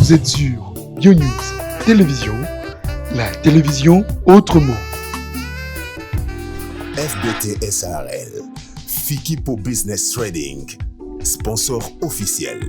Vous êtes sur Bionews Télévision, la télévision autrement. FBT SRL, Fikipo Business Trading, sponsor officiel.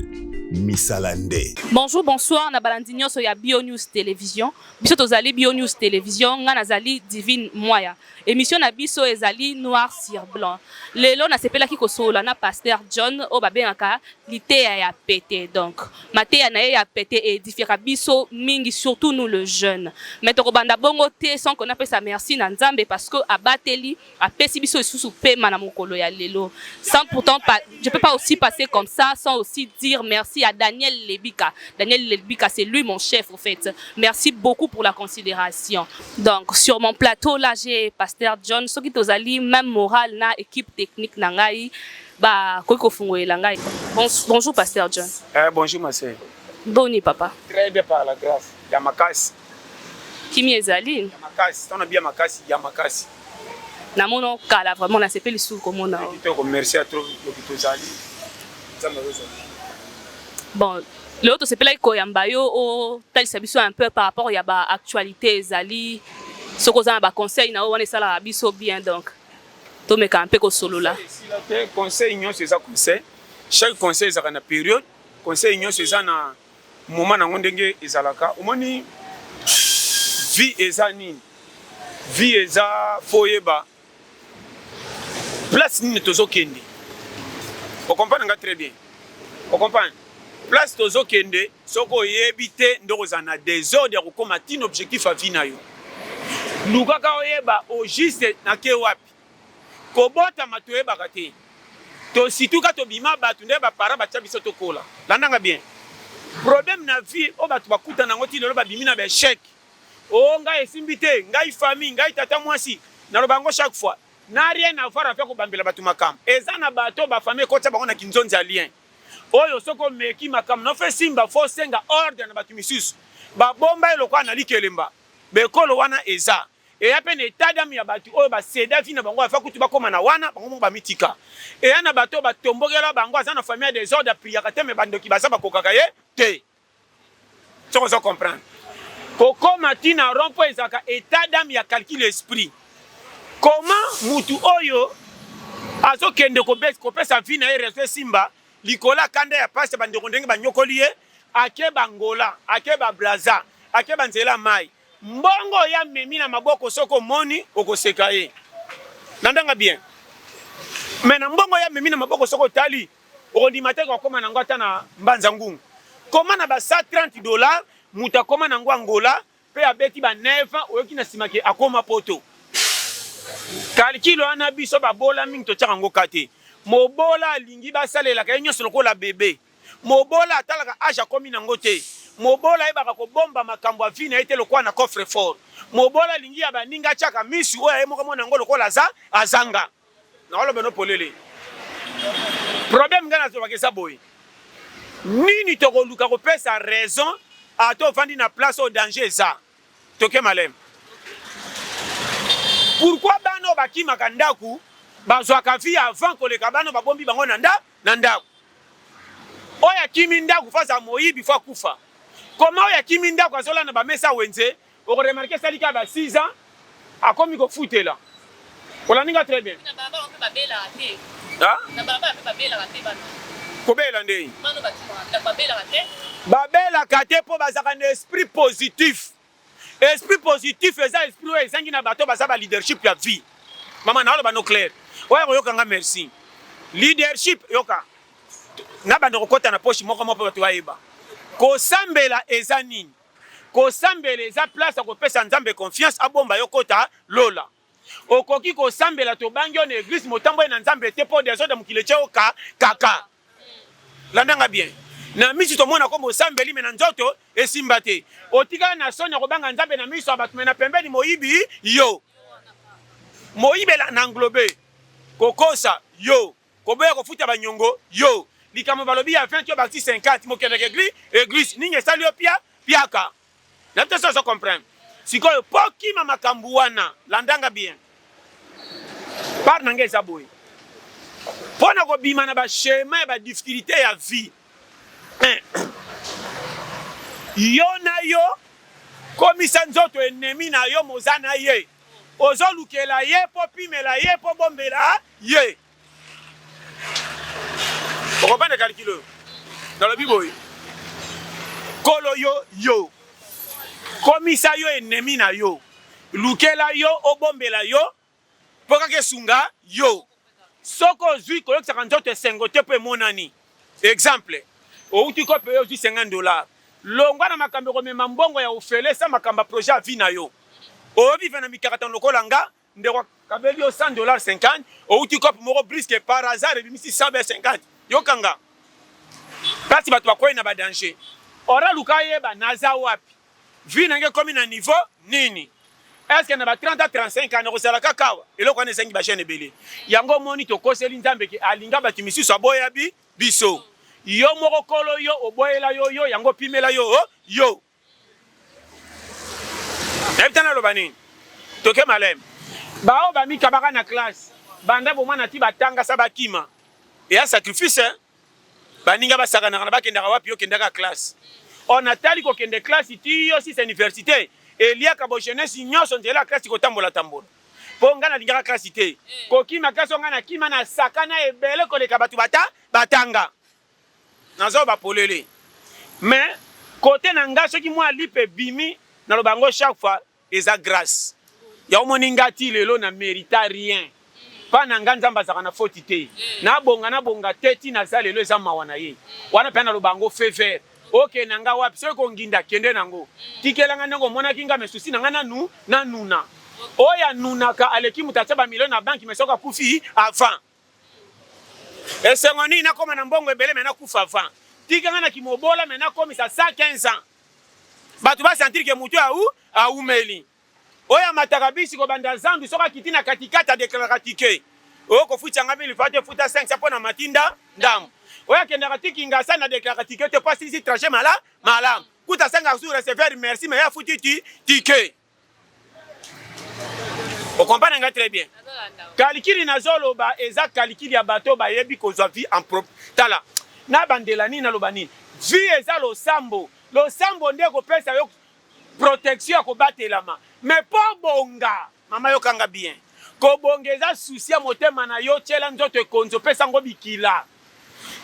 Misalande. Bonjour, bonsoir, na balandi nyoso ya Bio News Télévision. Biso tozali Bio News Télévision, nga nazali Divine Moya. Emission na biso ezali noir sur blanc. Lelo nasepelaki kosolola na pasteur John oyo babengaka liteya ya pete. Donc mateya na ye ya pete e edifiaka biso mingi surtout nous le jeune. Mais tokobanda bongo te sans que napesa merci na Nzambe parce que abateli apesi biso lisusu pema na mokolo ya lelo. Sans pourtant pas, je peux pas aussi passer comme ça sans aussi dire merci à Daniel Lebika. Daniel Lebika c'est lui mon chef au fait. Merci beaucoup pour la considération. Donc sur mon plateau là j'ai pasteur John soki tozali même morale na équipe technique na ngai ba koki kofungolela ngai. Bon, bonjour pasteur John. Eh bonjour ma sœur. Boni papa. Très bien par la grâce ya makasi. Kimi ezali. Ya makasi, tana bien makasi ya makasi. namona yo kala vraiment nasepeli susu komona yo kitoko merci atro loki tozali nzambe azozala bon lelo tosepelaki koyamba yo otalisa biso un peu par rapport ya ba actualité ezali soki oza na baconseil na yo wana esalaka biso bien donc tomeka mpe kosolola conseil nyonso eza conseil chaque conseil ezalaka na période conseil nyonso eza na moma nango ndenge ezalaka omoni vie eza nini vie eza fo oyeba place nini tozokende okomprane nga très bien okomprane place tozokende soki oyebi te nde okozala na desordre ya kokoma tina objectif ya vie na yo lukaka oyeba au juste nake wapi Kobotama toyebaka te tosituka tobima batu nde ba parents batia biso tokola landa nga bien problème na vie oyo batu bakutana nango ti lelo babimi na ba echec o oh, ngai esimbi te ngai famille ngai tata mwasi naloba yango chaque fois na rien avoir avec kobambela batu makambo eza na bato ba famille ekotia bango na kinzonzi ya lien oyo soki omeki makambo na fe simba fo senga ordre na bato misusu babomba ye lokola na likelemba bekolo wana eza eya mpe na etat d'ame ya bato oyo ba ceda vie na bango afa kutu bakoma na wana bango moko bamitika eya na bato oyo batombokela bango aza na famille ya desordre apriyaka te me bandoki baza bakokaka ye te soko ozo comprendre kokoma ti na rond mpo ezalaka etat d'ame ya calcul esprit koma mutu oyo azokende kopesa vie na ye reseau esimba likolo ya kanda ya pasi bandeko ndenge banyokoli ye akeba angola akeba braza akeba nzela ya mai Mbongo oyo amemi na maboko soki omoni okoseka ye. Nandanga bien. Mais na mbongo oyo amemi na maboko soki otali okondima te kokoma nango ata na mbanza ngungu. Koma na ba 130 dollars mutu akoma nango Angola pe abeti ba 9 ans oyoki na sima ke akoma poto. Calcul wana biso babola mingi totiaka ngo cas te. Mobola alingi basalelaka ye nionso lokola bebe. Mobola atalaka age akomi nango te. Mobola ayebaka kobomba makambo ya vie na ye te lokola na coffre fort. Mobola alingi ya baninga atiaka misu oyo ye moko amona yango lokola aza azanga. Nakoloba no polele. Problème nga nazobaka eza boye. Nini tokoluka kopesa raison ata ofandi na place oyo danger eza. Toke malem. Pourquoi bana oyo bakimaka ndaku bazwaka vie avant koleka bana babombi bango na nda na ndako. Oyo akimi ndako fa za moyibi fa kufa. Koma oyo akimi ndako azola na bamesa wenze oko remarquer sali ka ba 6 ans akomi kofutela. Olandi nga très bien. Na baba wapi babelaka te. Ha? Na baba wapi babelaka te bana. Kobela ndenge. Bana bakimaka babelaka te. Babelaka te mpo bazalaka na esprit positif. Esprit positif eza esprit oyo ezangi na bato baza ba leadership ya vie. Mama na oloba no clair. Oya koyoka nga merci. Leadership yoka. Na bande kokota na poche moko moko bato bayeba. Kosambela eza nini? Kosambela eza place ya kopesa Nzambe confiance abomba yo kota lola. Okoki kosambela tobangi yo na eglise motamboli na Nzambe te po desordre mokili etye yo ka kaka. Landa nga bien. Na miso tomona ko mosambeli me na nzoto esimba te. Otikala na soni ya kobanga Nzambe na miso ya bato me na pembeni moyibi yo. Moyibela na englobe kokosa yo, koboya kofuta banyongo yo. Likambo balobi ya 20 yo bakisi 50 mokendeke eglise, eglise nini esali yo pia piaka. na bito soso comprendre sikoyo po kima makambu wana landanga bien par nanga eza boye mpo na kobima na bachemin ya badifficulté ya vie eh. yo na yo komisa nzoto enemi na yo moza na ye ozolukela ye mpo pimela ye mpo bombela ye okopande kalikilo oyo nalobi boye kolo yo yo komisa yo enemi na yo lukela yo obombela yo mpo kaka esunga yo soki ozwi koyokisaka nzoto esengo te mpo emonani exemple outi kope yo ozwi 50 dollar longwa na makambo ekomema mbongo ya ofele sa makambo ya projet ya vi na yo oyobiva na mikakatano lokola nga Ndeko kabeli yo 100 dollars 50 outi cop moko brisque par hasard ebimisi 100 be 50 yokanga place bato bakwei na badanger ora luka yeba naza wapi vie na nge ekomi na niveau nini eske na ba 30 a 35 ans nakozala kaka awa eloko wana ezangi bajeune ebele yango omoni tokoseli nzambe ke alinga bato misusu aboya bi biso yo moko kolo yo oboyela yo yo yango opimela yo oh, yo nayebi te naloba nini toke maleme baoyo bamikabaka na classe banda bomwana ti batangasa bakima eya sacrifice eh? baninga basakanaka na bakendaka wapi yo kendaka classe o natali kokende classe ti yo sisa université eliaka bo jeunesse nyonso nzela ya classe kotambolatambola mpo ngai nalingaka classe te kokima classe o ngai nakima nasakana ebele koleka bato bata batanga Nazo ba polele mais cote na nga soki mua lipa ebimi na loba yango chaque fois eza grace ya omoni nga ti lelo na merita rien pa na nga nzambe azaka na foti te na bonga na bonga te ti na za lelo eza mawa na ye wana pena na loba yango fever oke na nga wapi soki konginda kende na ngo tikela nga ndenge omonaki nga mesusi na nga na nu na nuna oya nunaka aleki mutatia ba million na banki mesoka kufi avant Esengo nini nakoma na mbongo ebele me nakufa avant. Tika nga na kimobola me nakomisa 115 ans. Bato ba sentir ke moto ya u aumeli. Oyo amataka bisi kobanda zandu soki akiti na katikati adeklaraka tike. Oyo kofuta nga mili fate futa 500 mpo na matinda ndambo. Oyo akendaka ti Kingasa na deklaraka tike te mpo asilisi trajet mala malamu. Kuta senga su recevoir merci me ye afuti ti tike. okompane nga très bien kalikili nazoloba eza kalikili ya bato bayebi kozwa vie en propre tala nabandela nini naloba nini vie eza losambo losambo nde ekopesa yo protection ya kobatelama mais mpo bonga mama yokanga bien kobonga eza susi ya motema na yo tyela nzoto ekonzi opesa yango bikila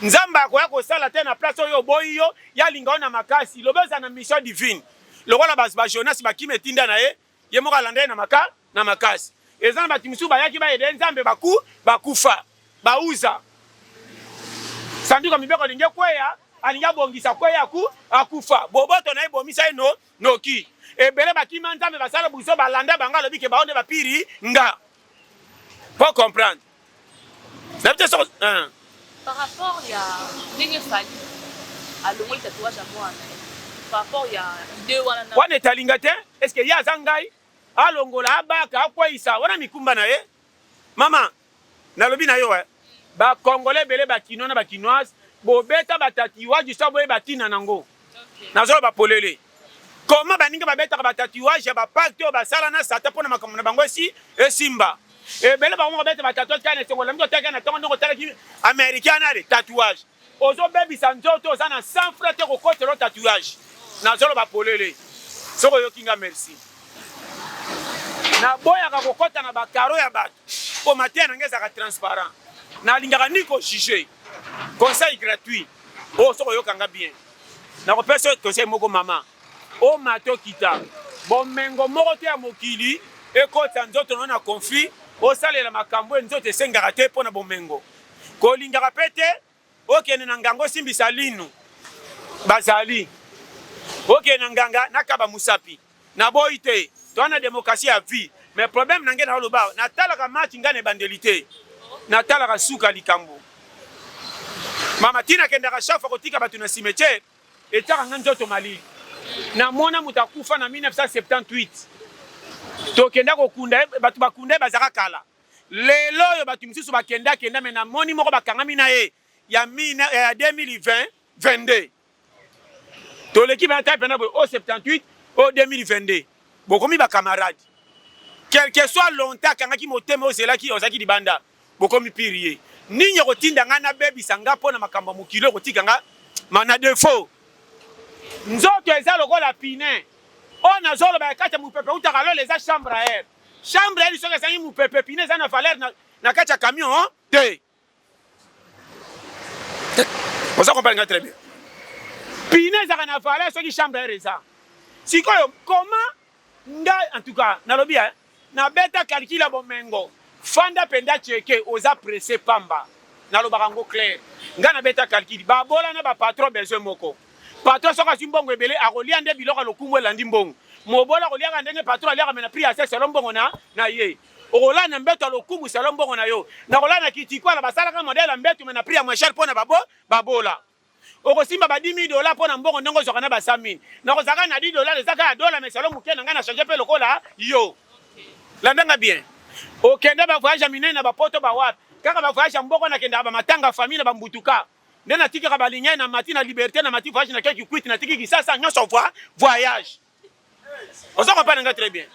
nzambe akoya kosala te na place oyo oboyi yo yalinga yo na makasi loba eza na mission divine lokola ba ba Jonas bakima etinda na ye ye moko alanda ye na maka na makasi eza na bato mosusu bayaki bayede ye nzambe baku bakufa bauza sanduku ya mibeko alingi ekweya alingi abongisa kweya aku akufa boboto na ye bomisa ye no noki ebele bakima nzambe basala buzoba alanda bango alobi ke bao nde bapiri nga po comprendre nayebi te soko hein. par rapport ya ndenge fali alongoli tatouage ya mwana par rapport ya idee wana na wana etalinga te est ce que ye aza ngai alongola abaka akweyisa wana mikumba na ye mama nalobi na yo eh. bakongole ebele bakinois na bakinoise bobeta batatiwage so boyeba ntina nango nazoloba polele koma baninga babetaka batatuage ya bapakte oyo basala na sata mpo na makambo na bango esi esimba ebele bango moko bete batatuage kaka na esengo olambi kotaki na ntongo ndenge otalaki américain nale tatouage ozobebisa nzoto oza na sans frais te kokotela tatouage nazoloba polele soki oyoki nga merci naboyaka kokɔta na bakaro ya bato Po mateya na nga ezalaka transparent. Na lingaka ni ko juger. Conseil gratuit. Oh soki oyoka nga bien. Na ko pesa conseil moko mama. O mata okita. Bomengo moko te ya mokili ekotisa nzoto na yo na conflit. Osalela makambo oyo nzoto esengaka te po na bomengo. Kolingaka pe te Okende na nganga osimbisa linu bazali okende na nganga nakaba musapi na boyi te toa na demokrasi ya vie mais problème na nge na oloba natalaka match ngai na ebandeli te natalaka suka likambo mama tina akendaka chaque fois kotika bato na cimetière etiaka ngai nzoto malili namona moto akufa na 1978 tokenda kokunda ye bato bakunda ye bazaka kala Lelo oyo batu misusu ba kenda kenda mais na moni moko ba kangami na ye ya 2020 22 toleki bana tape na boye o 78 o 2022 bokomi ba camarade quelque soit longtemps akangaki motema ozelaki ozalaki libanda bokomi pirie nini ekotinda ngai nabebisa ngai mpo na makambo ya mokili ekotika ngai mana defo nzoto eza lokola pine oyo nazoloba ya kati ya mopepe utaka lola eza chambre air Chambre ya lisoko ezangi mupepe, pine eza na valeur na, na kati ya camion hein? te. Oza comprendre nga très bien. Pine ezaka na valeur soki chambre ya reza. Sikoyo comment nga en tout cas nalobi hein, na beta calcul ya bomengo. Fanda penda cheke oza presse pamba. Nalobaka ngo clair. Nga na beta calcul. Babola na ba patron besoin moko. Patron soki azwi mbongo ebele akolia nde biloko ya lokumu elandi mbongo. Mobola akoliaka ndenge patron aliaka me na prix ya se selon mbongo na na ye. Okolala na mbeto ya lokumu selon mbongo na yo. Nakolala na kitikwala basalaka modèle ya mbeto me na prix ya moins cher mpo na babo babola. Okosimba ba 10000 dollars mpo na mbongo ndenge ozwaka na ba 100000. Nakozalaka na 10 dollars eza kaka dollars me selon moke na ngai na changer mpe lokola yo. Landa nga bien. Okende ba voyage ya minene na ba poto ba wapi? Kaka ba voyage ya mboko nakendaka ba matanga famille na ba mbutuka. nde natikaka balinye na mati na liberte na mati voyage na keki kwiti natiki kisasa nyonso voi voyage oza kopana nga très bien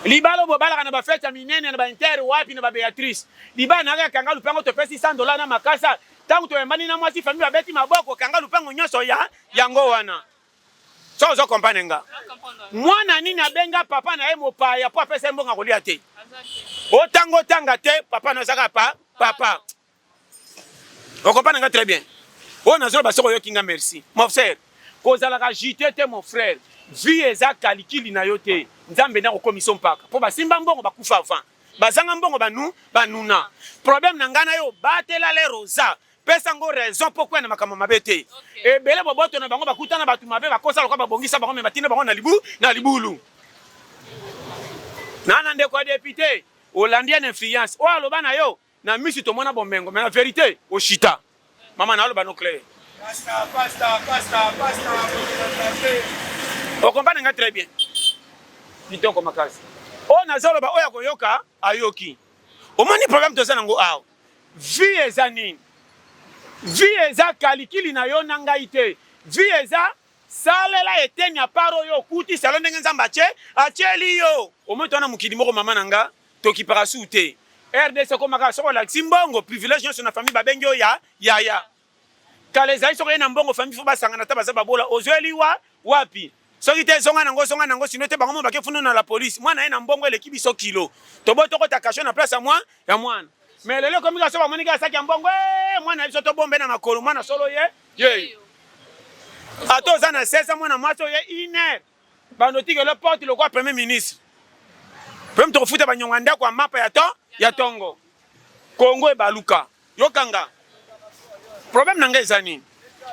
libala bobalaka na bafete ya minene na baintere wapi na babeatrice libala na kaka kanga lupango topesi 100 dola na makasa ntango toyambani na mwasi fami babeti maboko kanga lupango nyonso ya yango wana so ozo kompane nga mwana nini abenga papa na ye mopaya mpo apesa ye mbongo akolia te otanga otanga te papa na ozaka pa papa Okopana nga très bien. Oyo nazo ba soko yoki nga merci. Mon frère, kozalaka jite te mon frère. Vie eza calicule na yo te. Nzambe na kokomisa mpaka. Po basimba mbongo bakufa avant. Bazanga mbongo banu banuna. Problème na nga na yo batela le rosa. pesa ngo raison mpo kwenda makambo mabe te ebele boboto na bango bakuta na bato mabe bakosa lokola babongisa bango me batinda bango na libu na libulu nana ndeko ya depute olandi en influence oyo aloba na yo Na misu tomona bomengo mais na verite oshita. Mama na aloba no clair. Pasta, pasta, pasta, pasta, pasta. Okompane nga très bien. Kitoko makasi. Oyo nazoloba oyo akoyoka ayoki. Omoni problème toza nango awa. Vie eza nini? Vie eza kalikili na yo na ngai te. Vie eza salela eteni ya part oyo okuti selo ndenge Nzambe atie atieli yo. Omoni toza na mokili moko mama na nga. Tokipaka su te. RDC ekoma kaka soki olakisi mbongo, privilège nyonso na famille babengi yo ya yaya. Kala ezali soki oye na mbongo famille faut basangana ata baza babola ozweli wa wapi? Soki te zonga nango zonga nango sino te bango moko bake funu na la police. Mwana ye na mbongo eleki biso kilo. Tobo tokota cachot na place ya mwa ya mwana. Mais lelo ekomi kaka soki bamoni kaka saki ya mbongo ee mwana biso tobombe na makolo mwana solo ye yeyo. Ata oza na 16 ans mwana mwasi oye une heure banotikele porte lokola premier ministre mpe moto kofuta banyonga ndako ya mapa ya to ya tongo kongo ebaluka yokanga problème na ngai eza nini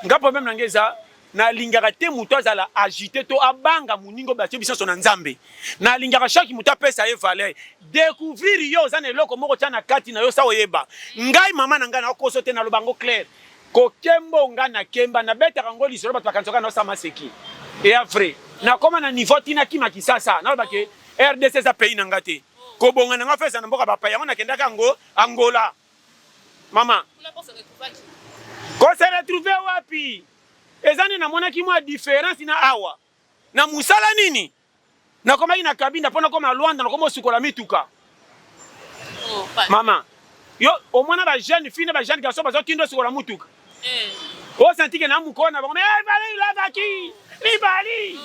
nga problème na ngai eza nalingaka te moto azala agite to abanga moningo batie bisanso na nzambe nalingaka shaki moto apesa ye valeur découvrir yo oza na eloko moko tya na kati na yo sa oyeba ngai mama na ngai nakokoso te naloba yango claire Ko kembo nga na kemba na betaka ngo lisolo bato bakanisaka na osama seki eya vrai na koma na niveau ti na kima kisasa naloba ke rdc eza pays na nga te kobonga na nga fesa na mboka bapaya yango nakendaka yango angola mama kose retrouve wapi eza nde namonaki mwa différence na awa na mosala nini Nakomaki na Kabinda mpo nakoma Luanda, nakoma osukola mituka. Oh, Mama, yo omona ba jeune fille na ba jeune garçon bazo tindo osukola mutuka. Eh. O senti que na mukona na bango, mais eh, Valérie Lavaki, Libali.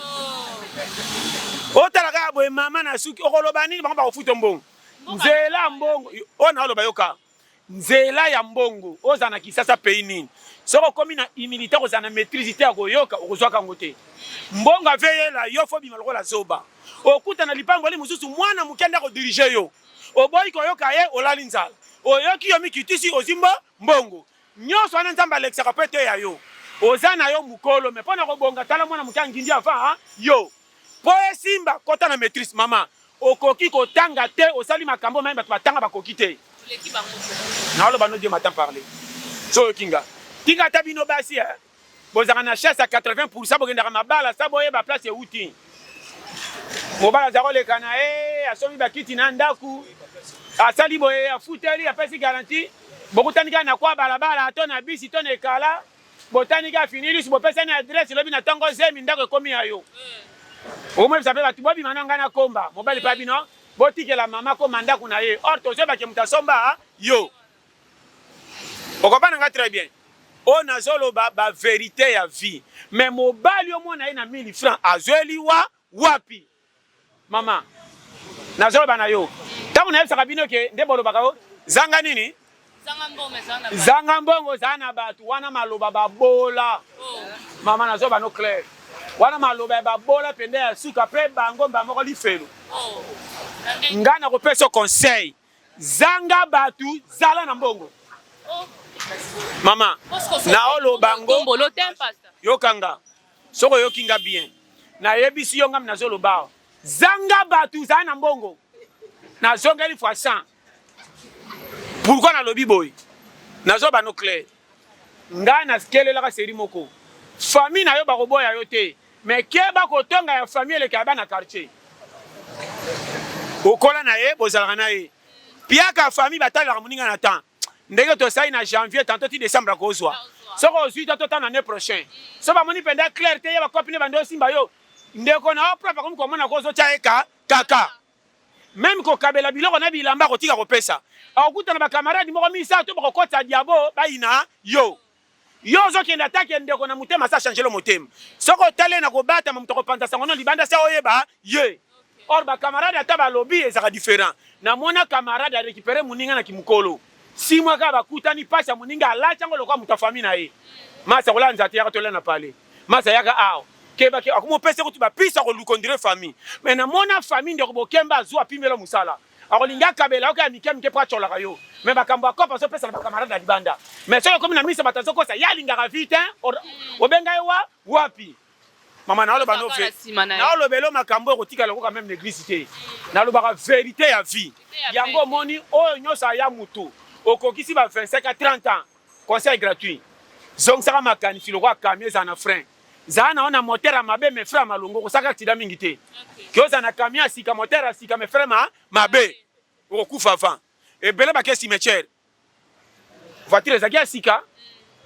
Oh. Otala kaka boye mama na suki, okoloba nini bango bakofuta mbongo. Nzela mbongo, oyo na oloba yoka. nzela ya mbongo oza na kisasa pays nini soki okomi na humilité kozala na maîtrise te ya koyoka okozwaka yango te mbongo aveyela yo fo bima lokola zoba okuta na lipamboli mosusu mwana moke nde akodirige yo oboyi koyoka ye olali nzala oyoki yo mikitisi ozimba mbongo Nionso wana nzambe alekisaka po eteya yo oza na yo mukolo mais pona kobonga tala mwana muke angindi avant yo po esimba kota na maitrise maman okoki kotanga te osali makambo omanyi batu batanga bakoki te naoloba no dieu m'attend parle soyo kinga tika ata bino basi eh. Bozalaka na chance ya 80 pourcent bokendaka mabala sa boyeba place ewuti. Mobala aza koleka na ye asombi bakiti na ndako asali boye afuteli apesi garanti bokutani kaka na kwa balabala to na bisi to na ekala botani kaka fini lusu bopesani adresse lobi na ntongo zemi ndako ekomi ya yo okomoyebisa mpe bato bobima na ngai na komba mobali mpe bino botikela mama koma ndako na ye or tozoyebake moto asomba yo okopana nga très bien oyo nazoloba ba verite ya vie me mobali omona ye na 1000 franc azweli wa wapi mama nazoloba na yo ntango nayebisaka bino ke nde bolobaka yo zanga nini zanga mbongo zaa na bato wana maloba babola oh. mama nazoloba no claire wana maloba ya babola mpenza ya suka mpe bango mba moko lifelo oh. ngai nakopesa conseil Zanga batu zala na mbongo. Mama, naoloba ngo yokanga soko oyoki nga bien nayebisi yo ngami nazoloba awa zanga bato zala na mbongo nazongeli fois 100 pourkui nalobi boye nazobano claire Nga na kelelaka serie moko famille na yo bako boya yo te mais keba ko tonga ya famille eleka ya bana quartier okola na ye bozalaka na ye piaka famille batalelaka moninga na temps ndenge tosali na janvier tanto ti décembre akozwa soki ozwi to totana année prochain so bamoni mpenza claire te ye bakopi nde bande osimba yo ndeko na yo propre akomi komona ko ozotya ye ka kaka meme kokabela biloko na bilamba kotika kopesa okutana bakamarade moko misato bakokotisa diabo bayina yo yo ozokende ata ke ndeko na motema sa changelo motema soki otali na kobatama moto akopanza sango no libanda se oyeba ye or bakamarade ata balobi ezaka different namona kamarade arekipere moninga na kimokolo simwa kaka bakutani mpasi ya moninga alati yango lokola moto ya fami na ye masa kolanza te yaka tolia na pale Masa yaka awa. Keba keba akomo pesa kutu ba pisa ko luko ndire famille. Mais na mona famille ndeko bokemba azu apimela musala. Akolinga akabela oka ya mike mike pa cholaka yo. Mais bakambo ya kopa zo pesa na camarade na libanda. Mais soki okomi na misa bato azo kosa ya lingaka vite hein. Obenga ye wa wapi? Mama na oloba no ve. Na oloba elo makambo ekotika lokoka meme na église te. Na lobaka verite ya vie. Yango omoni oyo nyosa ya mutu okokisi ba 25 à 30 ans. Conseil gratuit. Zongisaka makanisi lokola camion ezala na frein. Zala na ona moteur ya mabe mais frein ya malongo kosaka accident mingi te. Ke ozala na camion ya sika moteur ya sika mais frein ma mabe. Okokufa avant. Ebele bake cimetière. Voiture ezaki ya sika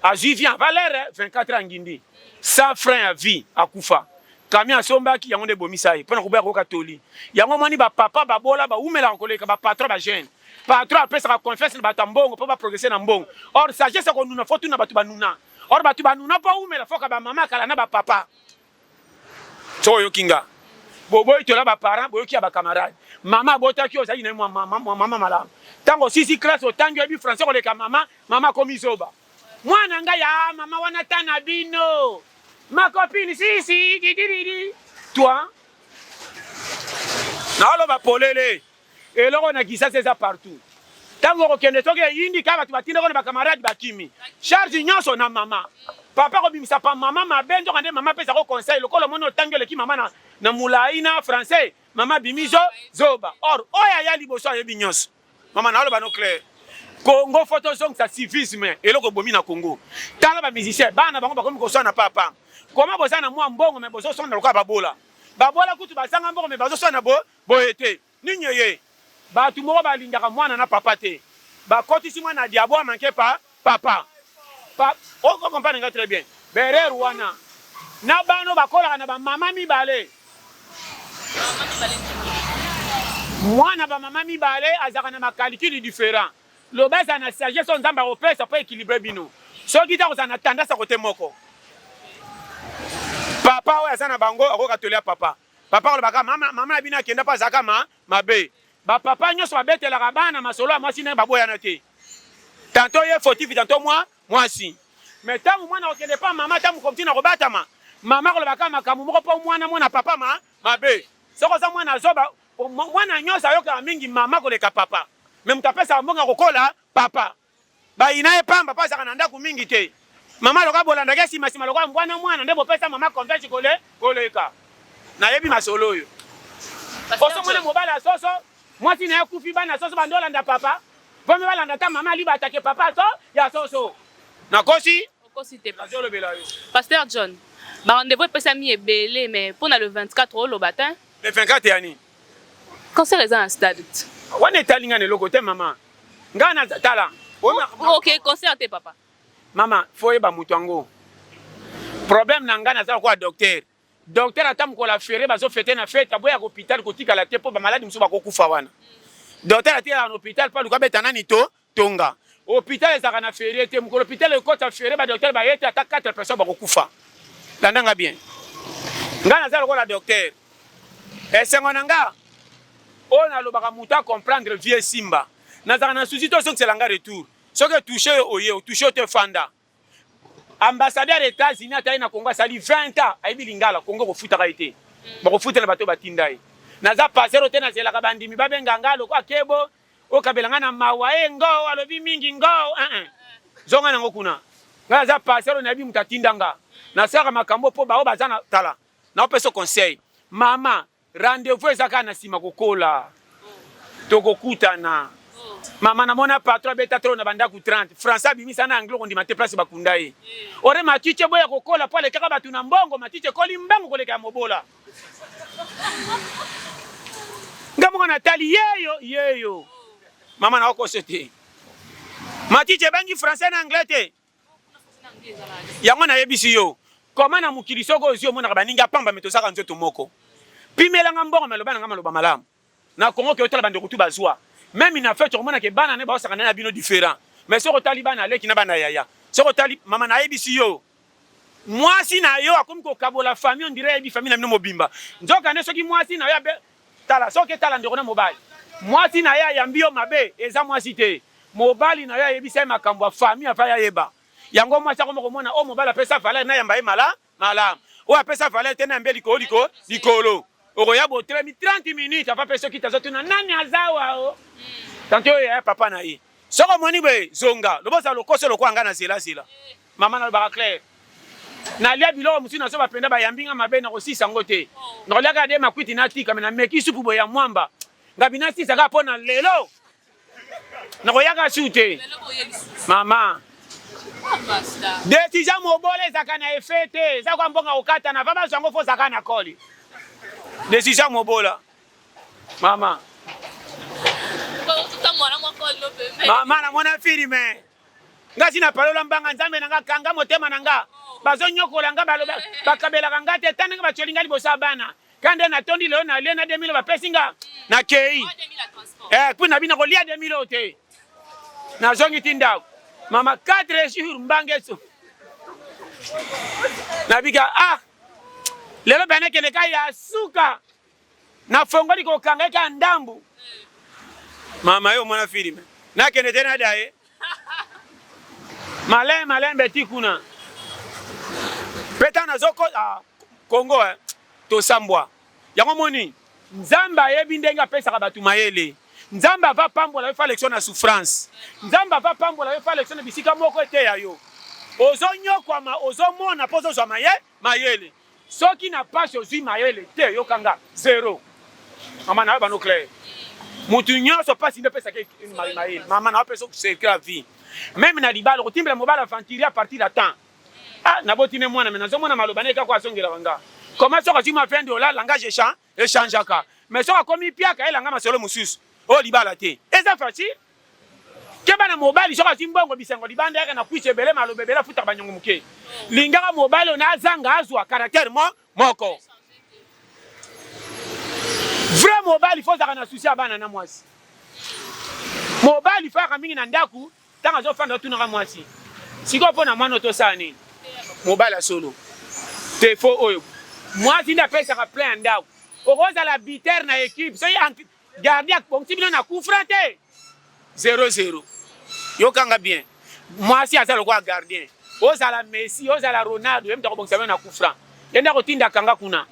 azui vie en valeur 24 ans ngindi. Sans frein ya vie akufa. Camion asombaki yango nde bomisa ye. Pona koboya koyoka toli. Yango moni ba papa babola baumelaka koleka ba patron ba jeune. Patron apesaka confiance na bato ya mbongo mpo baprogrese na mbongo. Or sagesse ya konuna fo tuna bato banuna. Or bato banuna mpo awumela foka bamama ya kala na bapapa. Soki oyoki nga boboyi tola baparent boyoki ya bacamarade mama abotaki yo ozalaki na ye mwa mama malamu ntango osisi classe otangi oyebi français koleka mama mama akomi zoba mwana ngai ya ah, mama wana ta na bino makopini sisi didididi toi naoloba polele Eloko na Kisasa eza partout. Tango okende soki eyindi ka bato batindeko na bakamarade bakimi. Charge nyonso na mama. Papa kobimisa pa mama mabe nzoka nde mama pesa ko conseil lokola omoni otangi oleki mama na, na mulayi na français mama bimi zo zoba or oyo aya liboso ayebi nyonso mama naoloba no clair Congo fo tozongisa civisme eloko ebomi na Congo tala ba musicien bana bango bakomi koswana papa koma boza na mwa mbongo me bozoswana lokola babola babola kutu bazanga mbongo me bazoswana bo Boye te? Nini eye? Batu moko ba lingaka mwana na papa te. Ba kotisi mwana na diabo a manque pa papa. Pa o comprendre nga tres bien. Ba erreur wana. Na bana oyo ba kolaka na ba mama mibale. Mwana ba mama mibale azalaka na ma calcul different. Loba za na sagesse oyo Nzambe ako pesa po equilibre bino. Soki te ako zala na tendance ya cote moko. Papa oyo aza na bango ako koka toli ya papa. Papa kolobaka mama mama na bino akenda mpo azalaka ma mabe. Ba papa nyonso babetelaka bana masolo ya mwasi ndenge baboyana te. Tanto ye fotifi tanto mwa mwasi. Mais ntango mwana akokende mpa mama ntango mokomti na kobatama, mama kolobaka makambo moko mpo mwana mona papa ma mabe. Soki oza mwana azoba, mwana nyonso ayokaka mingi mama koleka papa. Mais moto apesaka mbongo ya kokola papa. Bayina ye pamba po azalaka na ndaku mingi te. Mama lokola bolandaka ye sima sima lokola mbwa na mwana nde bopesa mama confiance kole koleka. Nayebi masolo oyo. Oso mona mobali ya soso mwasi naye akufi bana ya soso bande olanda papa vome balanda ata mama alibata ke papa so ya soso. Nakosi? Okosi te papa. Nazo lobela yo. Pasteur John, ba rendez-vous epesami ebele mais pona le 24 oloba te hein? Le 24 ya nini? Concert eza na stade. Wana etali nga na eloko te mama. Nga na tala. Ok, concert te papa. Mama, faut yeba moto yango. Problème na nga naza lokola docteur. Docteur ata mokolo afere bazo fete na fete aboya hôpital kotikala te mpo bamaladi mosusu bakokufa wana. Docteur atikala na hôpital mpo aluka abeta nani to tonga. Hôpital ezalaka na ferie te mokolo hôpital ekota ferie ba docteur baye te ata 4 personnes bakokufa. Landa nga bien. Nga naza lokola docteur. Esengo na nga oyo nalobaka moto a comprendre vieux Simba nazalaka na souci to zokisela nga retour soki etouche yo oye otouche yo te fanda ambassadeur États-Unis atali na Congo asali 20 ans ayebi lingala Congo kofutaka ye te bakofutela bato batinda ye naza pasero te nazelaka bandimi babenga nga lokola kebo okabela nga na mawa e eh, ngoo alobi mingi ngoo uh -uh. zonga nango kuna nga naza pasero nayebi moto atinda nga nasalaka makambo mpo baoyo baza na tala Na opesa conseil. Mama, rendez-vous eza kaka na sima kokola. Tokokutana. Mama na mona patron abeta trop na bandaku 30. Français abimisa na anglais kondima te place bakunda ye. Ore matiche boya kokola po alekaka batu na mbongo, matiche ekoli mbangu koleka ya mobola. Nga moko natali yeyo yeyo. Mama na okoso te. Matiche ebangi français na anglais te. yango nayebisi yo koma na mokili soko ozwi omonaka baninga pamba me tozaka nzoto moko pimelanga mbongo me aloba na ngai maloba malamu na kongo ke otala bandeko tu bazwa meme na fete okomona ke bana ne baosaka na bino different me soki otali bana aleki na bana yaya soki otali mama nayebisi yo mwasi na yo akomi kokabola famille ondire ayebi famille na bino mobimba nzoka nde soki mwasi na yo Tala soki etala ndeko na mobali muasi naye ayambi yo mabe eza muasi te mobali nayo ayebisa ye makambu ya famille afai ayeba yango muasi akoma komona oyo mobali apesa valeur nayamba ye mala malamu oyo apesa valeur te nayamba ye likolo liko likolo okoya botelemi 30 minutes afa pe soki tazo tuna nani aza wa o tante oyo yaya papa na ye soki omoni boye zonga loboza lokoso lokola nga na zela zela Mama nalobaka claire nalia biloko mosusu na soba mpenza bayambi nga mabe nakosisa yango te nakoliaka ade makwiti natika me nameki supu boye ya mwamba ngabi nasisa kaka mpo na lelo nakoyaka su te mama desizia mobola ezalaka na efe te eza kwa mbongo kokatana va bazwa yango fo ozalaka na koli desizia mobola mama mama namona filme Nga si na palola mbanga nzambe na nga kanga motema na nga bazo nyokola nga baloba bakabelaka nga te tandenge batioli nga liboso ya bana kande na tondi lelo na lie na 2000 bapesi nga na kei eh puis na bina kolia 2000 te na zongi ti ndako mama 4 jours mbange so na bika ah lelo bana kende ka ya suka nafongoli kokanga eka ndambu mama yo mwana filme nakende te nada ye malin malin beti kuna mpe ntango nazoko ah, kongo eh, tosambwa yango moni nzambe ayebi ndenge apesaka bato mayele nzambe ava pambola yo falekso na souffrance nzambe ava pambola yo falekso na bisika moko eteya yo ozonyokwama ozomona mpo ozozwa mayele Mayele soki na pasi ozui mayele te yoka nga zero mama na yo bano claire mutu nyonso pasi nde pesaka mayele mama na yo pesa okuseke ya vie meme na libala okotimbela mobali aventurier a partir ya temps ah naboti ne mwana me nazomona maloba na ye kako azongelaka nga koma soki azwi ma 20 dollars langage echange E changeaka. Mais soki akomi piaka elanga masolo mosusu. Oyo libala te. Eza facile. Keba na mobali soki azwi mbongo bisengo libanda yaka na kuiti ebele maloba ebele afutaka banyongo moke. Lingaka mobali oyo na azanga azwa caractère mo moko. Vrai mobali faut ozalaka na souci ya bana na mwasi. Mobali faut ayaka mingi na ndaku. Ntango azofanda otunaka mwasi sikoyo mpo na mwana oyo tosala nini? Mobali ya solo te fo oyo mwasi nde apesaka plein ya ndako. Okozala biter na ekipe soki gardi akbongisi bino na kufra te 00 yokanga bien mwasi aza lokola gardien ozala messi ozala ronaldo ye moto akobongisa bino na kufra ye nde akotinda kanga kuna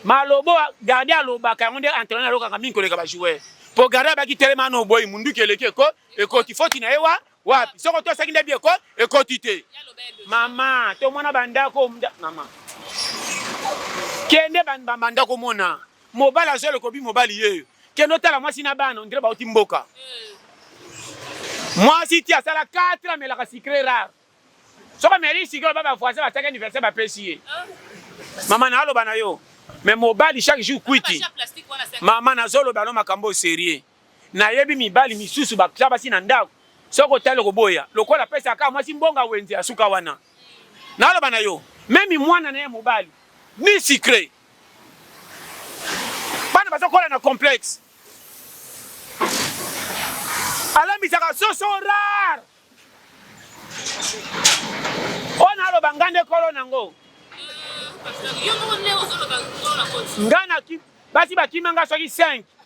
malobo gardien alobaka yango nde entraîneur alokaka mingi koleka bajoueur mpo gardien abaki telema na oboyi munduki eleki ekoti ekoti foti na ye wa wapi soko tosaki nde bieko ekoti te mama tomona bandako mama kende bandako omona mobali azwa lokobi mobali yeyo kende otala mwasi na bana ondire bauti mboka mwasi ti asala 4 amelaka sikre rare soki ameli sikre oba bavoisin bataki anniversaire bapesi ye ah. mama naaloba na yo me mobali chaque jour kwiti mama nazoloba no makambo serieux Nayebi mibali misusu batia basi na ndako soki otali okoboya lokola apesa kaka mwasi mbonga wenze asuka wana naloba na yo memi mwana na ye mobali ni secret bana bazokola na complexe alambisaka soso rare oyo naloba nga nde kolo nango nga basi bakima nga soki 5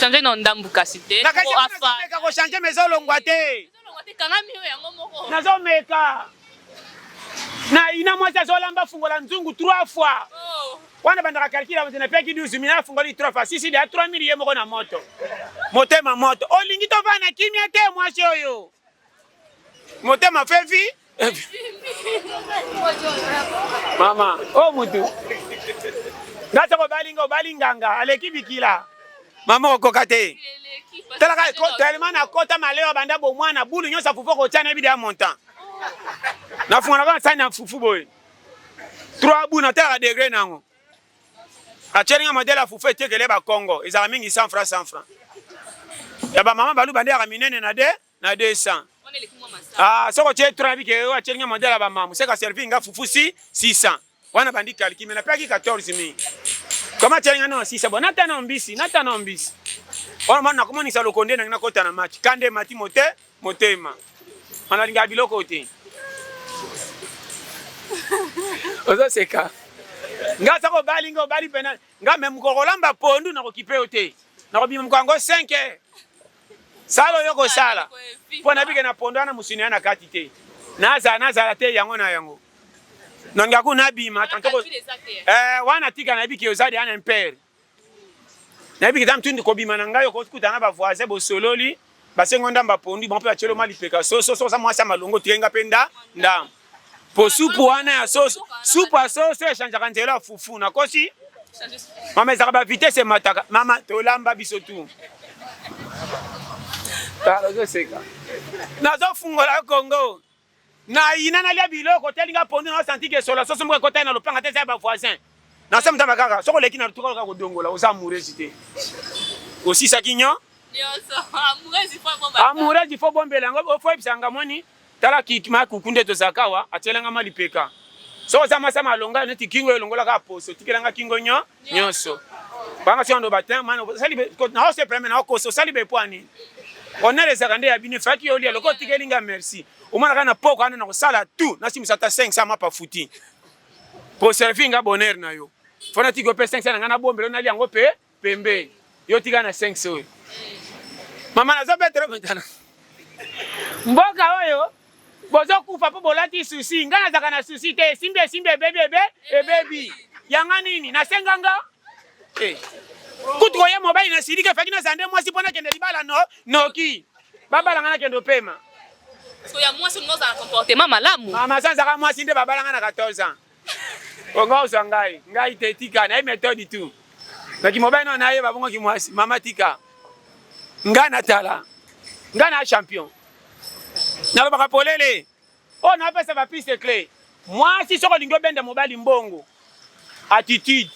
Changer na ndambu kasi te. Na kasi meka ko changer mais ezolongwa te. Ezolongwa te kanga mio yango moko. Nazomeka. Na ina mwasi azolamba fungola nzungu 3 fois. Oh. Wana bandaka calcul ya na peki 12 mina fungoli 3 fois. Sisi de 3000 ye moko na moto. Motema moto. Olingi tovana kimia te mwasi oyo. Motema fevi. mama o oh, mutu nga soko obali nga obali nganga aleki bikila mama okoka te talaka tellement nakota maleo abanda bomwana bulu nyonso afufu okotya nayebi deya montant nafunganaka na sani ya fufu boye trois bu natalaka degre nango atyeli nga modele ya fufu etekele bakongo ezalaka mingi 100 franc 100 franc ya bamama baluba nde yaka minene na de na 200 ah soko tie tura bike yo atie nga mandala ba mamu seka servir nga fufu si 600 wana bandi kalki me napaki 14000 koma tie nga na 600 bona tana mbisi na tana mbisi wana mwana nakomonisa lokonde na nga kota na match kande mati mote motema wana linga biloko te ozo seka nga soko obali nga obali pena nga me mokoko lamba pondu nakokipe yo te nakobima moko yango 5 heures sala oyo kosala mpo nabike na pondo wana mosuni ya na kati te nazala nazala te yango na yango nonga ku nabima tantoko eh, wana tika nayebi ke oza deya na impere nayebi keza mtundu kobima na ngai okokuta na bavoisin bosololi basengo ndamba pondu bango mpe batyeloma lipeka soso soki oza mwasi ya malongo tikenga mpe nda ndambo po supu wana ya soso supu ya soso echangeaka nzela ya fufu nakosi mama ezaka ba vitesse emataka mama tolamba biso tu ozoseka nazofungola kongo nayina nalya biloko telinga pondu naosantiki esola soso moko ekotaki na lopanga te eza ya bavoisin na se mutamba kaka soko leki na lutuka loka kodongola oza amoureuse te osisaki nyo amoureuse ifo bombela yango ofo yebisa nga moni tala kikima kuku nde tozalaka awa atielanga ma lipeka soko oza masa malonga neti kingo elongolaka poso tikelanga kingo nyo nyonso banga soki ando batin mana osali naosepela me naokosa osali bepwani onele ezalaka nde ya bino efaki yo olia lokola otikeli nga merci omonaka na poko wana nakosala tout nasimisa ata 500 mapa futi Conserve nga bonheur na yo. Fana tiko pe 500 na nga na bombelo na liango pe pembe. Yo tika na 500 oyo. Mama nazo betelo metana. Mboka oyo bozokufa mpo bolati susi ngai nazalaka na susi te esimbi esimbi ebebi ebe ebebi yanga nini nasenga nga eh. kutu koya mobali na siliki efaki nazala nde mwasi mpo nakende libala no noki Babala nga na kende opema. Parce que ya mwasi olingi ozala comportement malamu. Mama sanza ka mwasi nde babala nga na 14 ans. Onga ozwa ngai, ngai te tika na ye méthode tout. Naki mobali na ye babongo ki mwasi, mama tika. Nga na tala. Nga na champion. Nalobaka polele. Oyo na pesa ba piste cle. Mwasi soki olingi obenda mobali mbongo, attitude,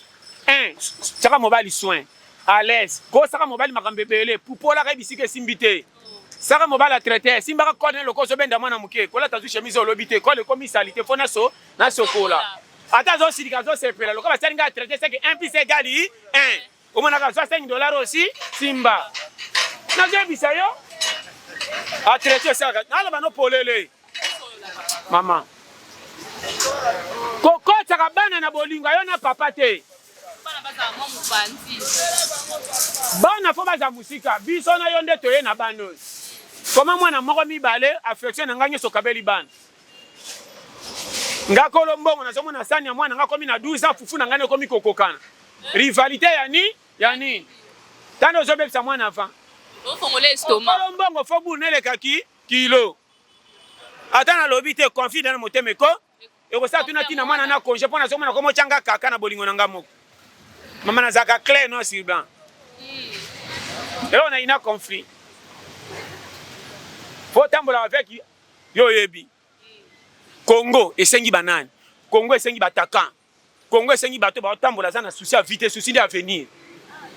un tiaka mobali soin, à l'aise, kosaka mobali makambo ebele, pupolaka ye bisika esimbi te, saka mobali atraite, simbaka code na lokoso obenda mwana moke, kolata zu chemise oyo olobi te, code ekomi salite fo naso nasokola, ata azosilika azosepela lokola basali ngai atraite seke un plus un egal un. omonaka azwa 5 dollars osi simba nazoyebisa yo atraite esalaka naloba no polele mama kokotaka bana na bolingo yo na papa te bana fo baza mosika biso na yo nde toye na bana oyo koma mwana moko mibale affection na ngai nyonso okabeli bana nga kolo mbongo nazomona sani ya mwana nga komi na 12 ans fufu na ngai ekomi kokokana rivalite ya nini ya nini tani ozobebisa mwana avant okolo mbongo fo bulu neleka ki kilo ata nalobi te conflit na motema eko ekosala tuna ntina mwana na konge mpo nazomona ko motyanga kaka na bolingo na ngai moko mama nazalaka clair no sur blanc hmm. eloko naina conflit fo otambola avec Yo oyebi Congo esengi banani? Congo esengi batakan. Congo esengi bato baotambola aza na souci ya vite, souci nde avenir.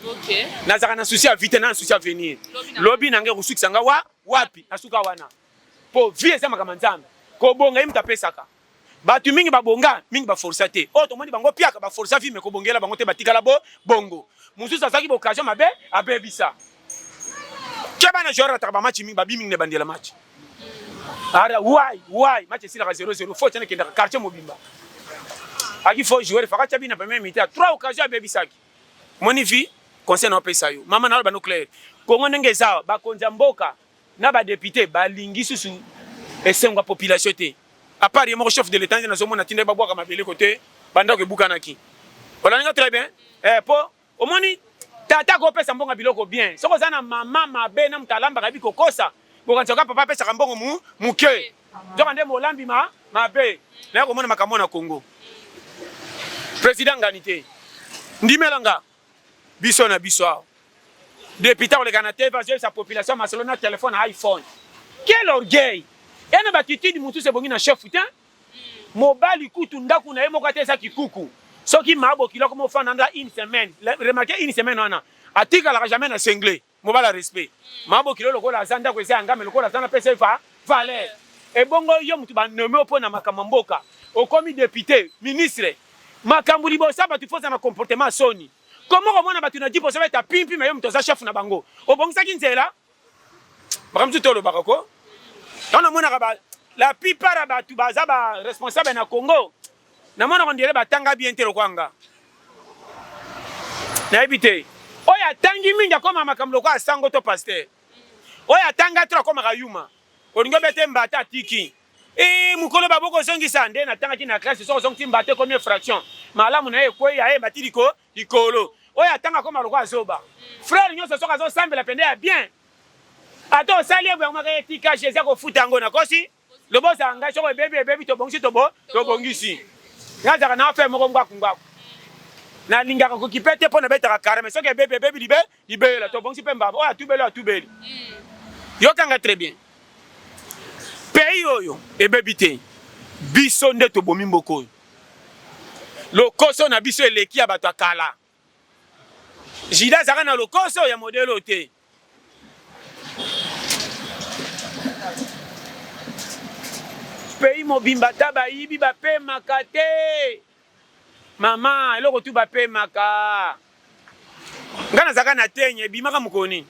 Okay. Nazaka na souci ya vite, na souci ya avenir. Lobi na ngai kosukisa ngai wa wapi? Nasuka wana. Po vie eza makambo ya Nzambe. Kobonga ye moto apesaka. Batu mingi ba bonga, mingi ba forsa te. Oh, tomoni bango piaka ba forsa vie mais ko bongela bango te batikala bo bongo. Mususu azaki ba occasion mabe abebisa. Ke bana joueur ataka ba match mingi ba bimi ne bandela match. Ara why why match sila 0-0 faut tena kenda quartier mobimba. Aki faut jouer faka chabi na premier mi-temps. Trois occasions abebisaki. Moni vie conseil na pesa yo. Mama na ba nucléaire. Kongo ndenge eza ba konza mboka na ba depute ba lingi susu esengo ya population te à part ye moko chef de l'etat nde nazomona tinda ye babwaka mabele kote bandako ebukanaki olandinga très bien eh, po omoni tata akopesa mbongo ya biloko bien soki oza na mama mabe na moto alambaka yebi kokosa bokanisa kaka papa apesaka mbongo mu moke nzoka nde molambi ma mabe naye komona makambo na congo président ngani te ndimela nga Biso na biso awa. Depute akoleka na TV azoyebisa population masolo na telefone na iPhone. Quel orgueil! Eye na batitude mosusu ebongi na chef te. Mobali kutu ndako na ye moko ata eza kikuku. Soki maa bokilo akoma ofanda na une semaine. Remarquez une semaine wana atikalaka jamais na singlet. Mobala respect. Ma bokilo lokola aza ndako eza yanga mais lokola aza na pesa va valeur. Ebongo yo mutu ba nomme opo na makambo mboka. Okomi depute, ministre. Makambo liboso ya batu foza na comportement soni. Comment komona batu na jeep ozo beta pimpi mais yo mutu oza chef na bango. Obongisaki nzela? Makambo tu tolo baka ko. Tana mona ka ba la plupart ya batu baza ba responsable na Congo. Na mona on dirait batanga bien te lokola nga. Nayebi te. Oyo atangi mingi akoma makambo lokola sango to pasteur. Oyo atanga trop akomaka yuma. Olingi obete mbata atiki. Ee mokolo baboko ozongisa nde natangaki na classe so ozongisi mbata ekomi fraction. Malamu na ye ekwei aye mbati liko likolo. Oyo atanga akoma lokola zoba. Frère nyonso soki azosambela pende ya bien. Ata osali ye boye akomaka etika Jésus akofuta yango nakosi. Loba ozala ngai soko ebebi ebebi tobongisi tobo tobongisi. Ngai azalaka na affaire moko ngwaku ngwaku. Nalingaka kokipe te mpo nabetaka kare mais soki ebebi ebebi libe libeyela tobongisi mpe mbamba oyo atubeli oyo atubeli. Hmm. Yokanga très bien. Pays oyo ebebi te. Biso nde tobomi mboko oyo. Lokoso na biso eleki ya bato ya kala. Jida azalaka na lokoso ya modele oyo te. Pays mobimba ta bayibi bapemaka te. Mama, eloko tu bapemaka. Nga nazalaka na tenye ebimaka mokolo nini?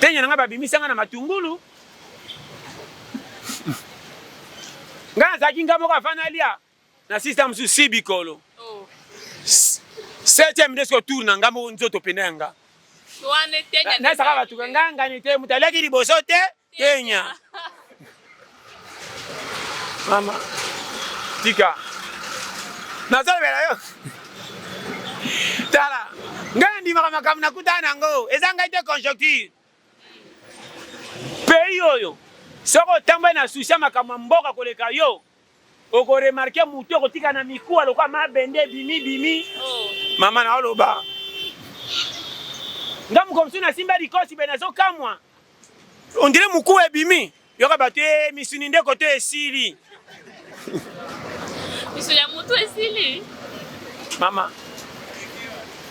Tenye na nga babimisa nga na matungulu. Nga nazalaki nga moko afana lia. Na sisi ta musu si bikolo. Oh. Septième ndesko tour na nga moko nzoto pena ya nga. Wane tenya. Na saka batu ka nga ngani te mutu aleki liboso te tenya. Mama tika. Na zalo bela yo. Tala. Nga ndimaka makambo nakutana nango. Eza ngai te conjoncture. Pays oyo soki otamboli na souci ya makambo ya mboka koleka yo oko remarquer mutu okotika na mikuwa lokola mabende bimi bimi oh. mama na oloba nga mokomsu nasimba likosi be nazokamwa ondire mokuwa ebimi Yoka bato e eh, misuni nde koto esili. Misuni ya moto esili. Mama.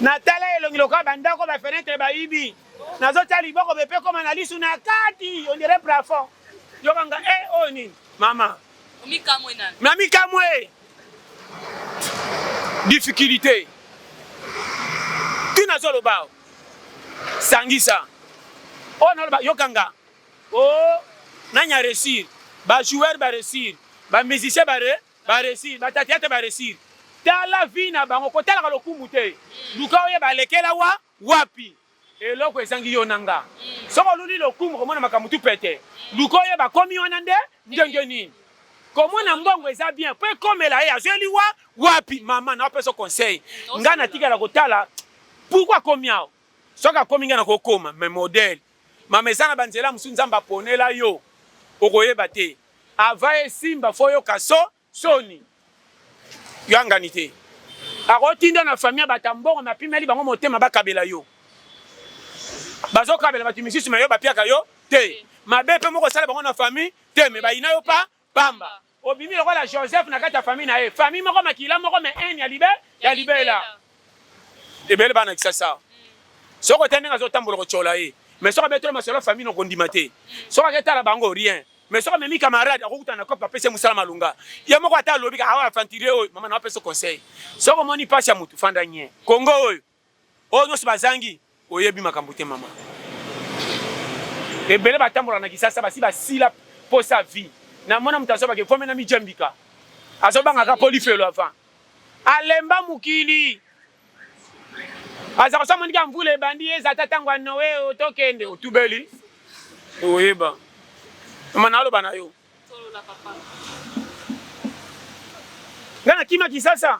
Natala elongi lokola bandako ba fenetre bayibi. Nazotya liboko bepe ekoma na lisu na kati on dirait plafond. Yoka nga e eh, oyo oh, nini? Mama. Mikamwe nani? Na mikamwe. Difficulté. Tina zoloba. Sangisa. Oyo oh, naloba yoka nga. Oh, nani a réussir? Ba joueurs ba réussir, ba musiciens ba re, ba réussir, ba theatre ba réussir. Tala vie na bango, kotalaka lokumu te. Luka oyeba alekela wa wapi. Eloko ezangi yo na nga. Soki oluli lokumu komona makambo tu pete. Luka oyeba akomi wana nde ndenge nini. Komona mbongo eza bien, po ekomela ye azweli wa wapi. Mama na opesa conseil. Nga natikala kotala pourquoi akomi awa. Soki akomi nga nakokoma mais modèle. Mama eza na ba nzela mususu nzambe aponela yo okoyeba te avant esimba fo yoka so soni yo angani te akotinda na famille bata mbongo ma pimeli bango motema bakabela yo bazokabela bato misusu ma yo bapiaka yo te mabe mpe moko osala bango na famille te me bayina yo pa Pamba. Obimi lokola Joseph na kati ya famille na ye. Famille moko makila moko mais haine ya libe ya libela. Ebele bana kisasa. Soko te ndenge azotambola kotyola ye. Mais soko abetolo masolo famille no kondima te. Soko aketala bango rien. Mais soko amemi camarade akokuta na kope apesi mosala malonga. Ye moko ata alobi ka awa aventurier oyo mama na apesa conseil. Soko moni pasi ya mutu fanda nye. Congo oyo. Oyo nionso bazangi. Oyebi makambo te maman. Ebele batambolaka na kisasa basi basila posa ya vie. Na mona moto azo bake vome na mi djambika. Azo banga ka po lifelo avant. Alemba mokili. Aza kosa moni ka mvula ebandi ye eza ta tango ya Noe oyo tokende otubeli. Oyeba. Mama na aloba na yo. Nga na kima kisasa.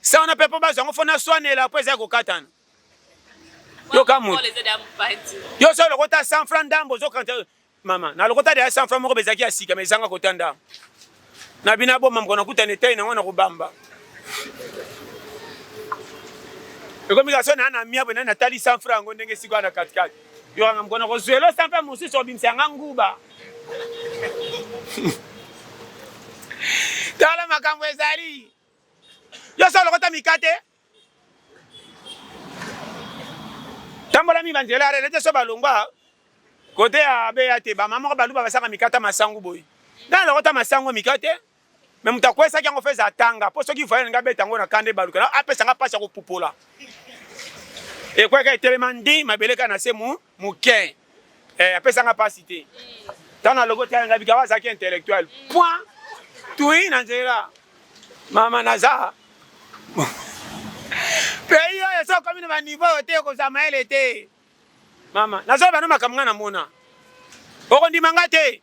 Sa wana pe po bazwa yango fo naswanela po eza ya kokatana. Yoka moto. Yo so lokota 100 francs ndambo ozokanta mama na lokota deya 100 francs moko bezalaki ya sika ma ezanga kota ndambo. Na bino aboma mokona kutana etai na yango na kobamba. ekomi kaka so naa na miabwe nani natali 100 franc yango ndenge esika wana katikati Yo wana mkono ko zuelo sa mpe mosusu obimisa yanga nguba. Tala makambo ezali. Yo solo kota mikate. Tambola mi banzela rele te so balongwa. Kote ya beya te ba mama ko baluba basaka mikata masangu boyi. Dans lokota masangu mikate. Mais moto akwesaki yango feza atanga mpo soki voyage nga beta yango na kanda ebaluka na apesa nga mpasi ya kopupola ekweka etelema ndi mabele kaka na se moke eh, apesa nga mpasi te ntango nalogo tala nga bikaba azalaki intellectuel point tui na nzela mama naza pays oyo so okomi na baniveau oyo te okozwa mayele te mama nazoloba no makambo ngai namona okondima ngai te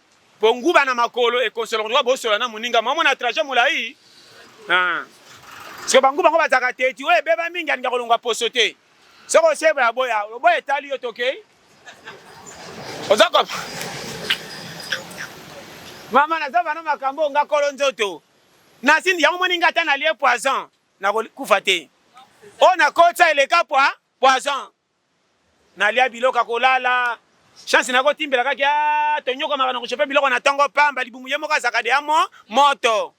Po nguba na makolo ekosolo koluka bosola na moninga mwa mona trajet molayi ah. Siko ba nguba ngo bazaka teti oyo ebeba mingi alinga kolongwa poso te soko osebo ya boya oboya etali yo tokei oza ko mama naza bana makambo nga kolo nzoto nasindi yango moni nga ata nalie poison nakokufa te oyo nakotisa eleka pwa poison nalia biloko ya kolala chance nako timbela kaki a ah, tonyokamaka na kosope biloko na tongo pamba libumu ye moko azalaka de amo moto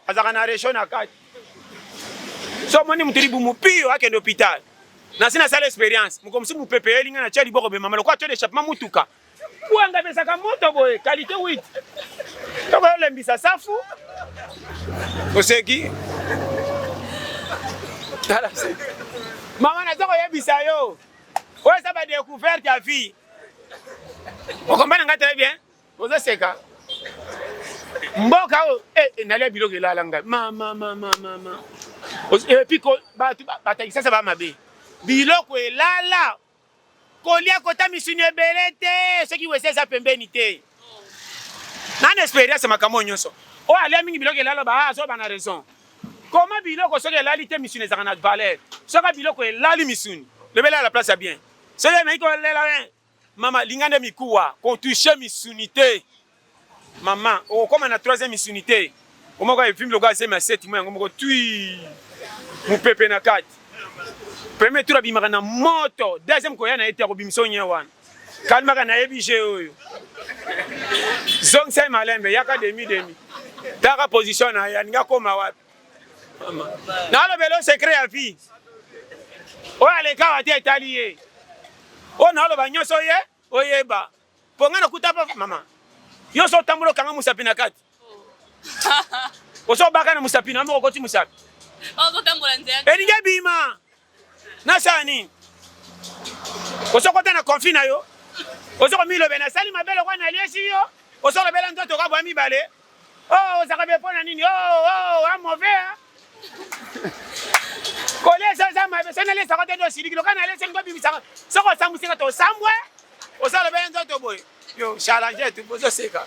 azalaka na resho na kati so omoni motu libumu pio akende hôpital nasi nasala experience mokomosusu mopepe eyeli ngai natia liboko bemama lokola tio de chapement motuka Kuanga pesaka moto boye kalite 8 toko olembisa safu oseki tala mama naza koyebisa yo oyo eza badecouverte ya vie okombana ngai très bien oza seka mboka oyo eh, eh, nalia biloko elala ngai mamamamamama epi bato batakisasa bamabe biloko elala Kolia kota misuni ebele te soki wese eza pembeni te. Nani experience makambo nyonso. Oyo alia mingi biloko elala ba ah, azoba na raison. Koma biloko soki elali te misuni ezaka na valeur. Soki biloko elali misuni, lobela la place ya bien. Soki na iko lela eh, mama linga nde mikuwa, ko toucher misuni te. Maman, okokoma na troisième misunité. Omoko ya vimbi lokola zemi ya seti mo yango moko tui mopepe na kati. Premier tour abimaka na moto, deuxième koya na ye te akobimisa onye wana. Kalmaka nayebi jeu oyo. Zongisa ye malembe, yaka demi demi. Taka position na ye, alinga koma wapi. Nalobelo secret ya vie. Oyo alekawa te etali ye. Oyo naloba nyonso ye oyeba. Po nga nakuta pa mama. Yo so tambulo kanga musapi na kati. Ozo baka na musapi na moko koti musapi. Ozo tambola nzela. Elingi bima. Na sani. Ozo kota na conflit na yo. Ozo ko milobe na sali mabele kwa na liesi yo. Ozo lobela ndoto ka bwa mibale. Oh, ozaka be pona nini? Oh, oh, a mauvais hein. kolesa eza mabe so nalesaka te tosiliki loka nalesa lingo bimisaka soko osambwisaka te osambwe osala bene nzoto boye yo chalange tu bozoseka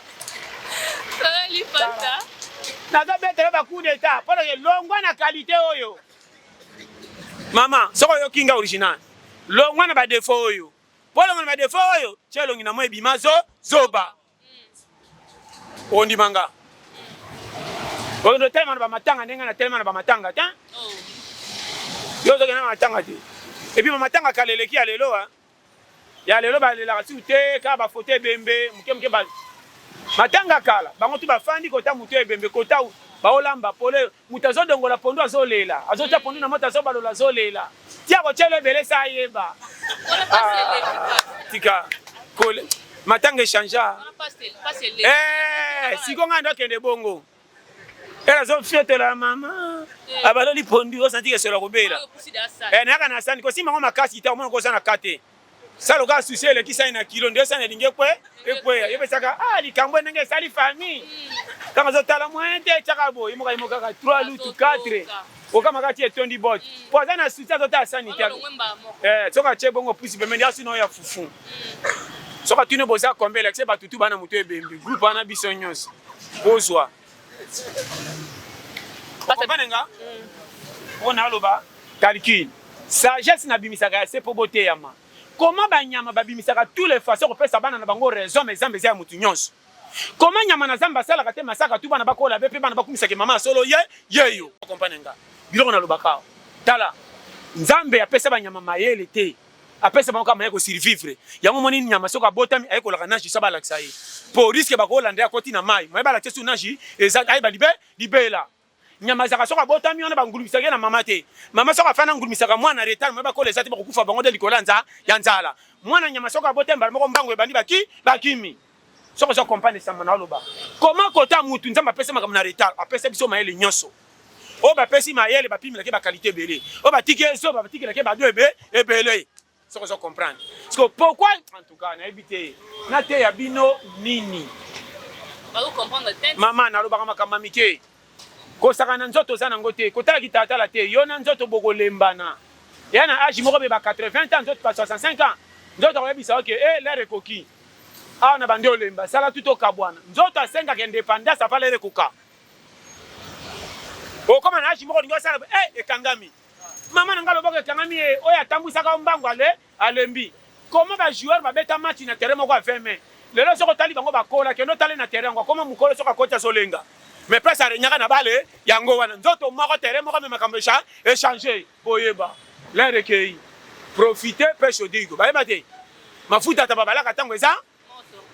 nazobetela bacoup d'état mpo na longwa na qualité oyo mama soko oyoki nga original longwa na badefo oyo mpo longwa na badefo oyo tye elongi na moi ebima zo zoba ondima nga oyo telema na bamatanga ndenge na telema na bamatanga te oh. yo ozokende na matanga te epuis bamatanga kala eleki ya lelo a ya lelo balelaka siku te kaka bafoto ebembe moke moke matanga kala bango tu bafandi kota moto ebembe kota baolamba pole Moto azo dongola pondu azo lela, azo tia pondu na moto azo balola azo lela. Tia ko tielo ebele sa ayeba. Tika kole matanga echangea. Eh, siko nga ndo kende bongo. Elle azo fiotola mama. Eh. Abaloli pondu osanti ke solo kobela. Eh, naka na sani ko sima ngo makasi ta omona ko za na kate. sa lokola susi elekisani na kilo nde osani elingi ekwe ekweya yo pesaka ah likambo ndenge esali famille ntango azotala moyen te etyaka boye moka yemo kaka 3 lutu 4 okamaka ti etondi bote mpo aza na susi azotala sani te eh, soki atye bongo pusi pembeni asi nao ya fufu soki atuni boza kombe elekise batutu bana moto ebembi groupe wana biso nyonso bozwa Okompane nga? Mpo naloba calcul. Sagesse nabimisaka ya se mpo boteyama. Comment banyama babimisaka tous les façons kopesa bana na bango raison mais Zamba eza ya moto nyonso. Comment nyama na Zamba asalaka te masaka tu bana bakola be mpe bana bakumisaka mama ya solo ye yeyo. Okompane nga? Biloko nalobaka awa. Tala, Nzambe apesa banyama mayele te. apesa bango kama ya ko survivre yango moni nyama soko abotami aye kolaka nage sa balakisa ye po risque bakolanda akoti na mai mai balakisa su nage eza ayeba libe libela nyama ezaka soko abotami wana bangulumisaka ye na mama te mama soko afana ngulumisaka mwana retard mai bakola eza te bakokufa bango nde likolo ya nzala mwana nyama soko abotami mbala moko mbango ebandi baki bakimi soki ozo comprendre lisambo na oloba koma kota mutu nzambe apesa makambo na retard apesa biso mayele nyonso oyo bapesi mayele bapimelaki bakalite ebele oyo batiki ezoba batikelaki bado ebe ebele soki ozo comprendre siko pourkui en tout cas nayebi te nateya bino nini mama nalobaka makambo ya mike Kosakana nzoto oza nango te kotala kitalatala te yo na nzoto bokolembana ya na age moko beba 80 ans nzoto ba 65 ans nzoto akoyebisa yo ke eh lere ekoki awa na bandi olemba sala tu tokabwana nzoto asengaka independance apa lere ekoka okoma na age moko olingi osala eh ekangami mama na ngai loboko ekangami ye oyo atambwisaka yo mbangu ale Alembi comment ba joueurs ba beta match na terrain moko ya 20 mai. Lelo soki otali bango ba kola kende otale na terrain yango akoma mukolo soki akoti azo lenga. Mais place a regnaka na bale yango wana nzoto moko terrain moko mais makambo echa echanger. Boyeba l'heure ekeyi profiter pe shodrigo bayeba te mafuta ta ba balaka tango eza.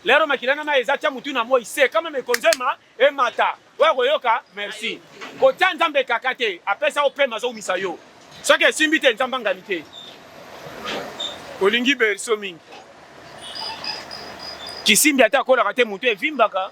Lero makila na mai eza tia mutu na moi se kama mekonzema emata oya koyoka merci kotia nzambe kaka te apesa opema azoumisa yo soki esimbi te nzambe angani te olingi berso mingi kisimbi ata akolaka te mutu evimbaka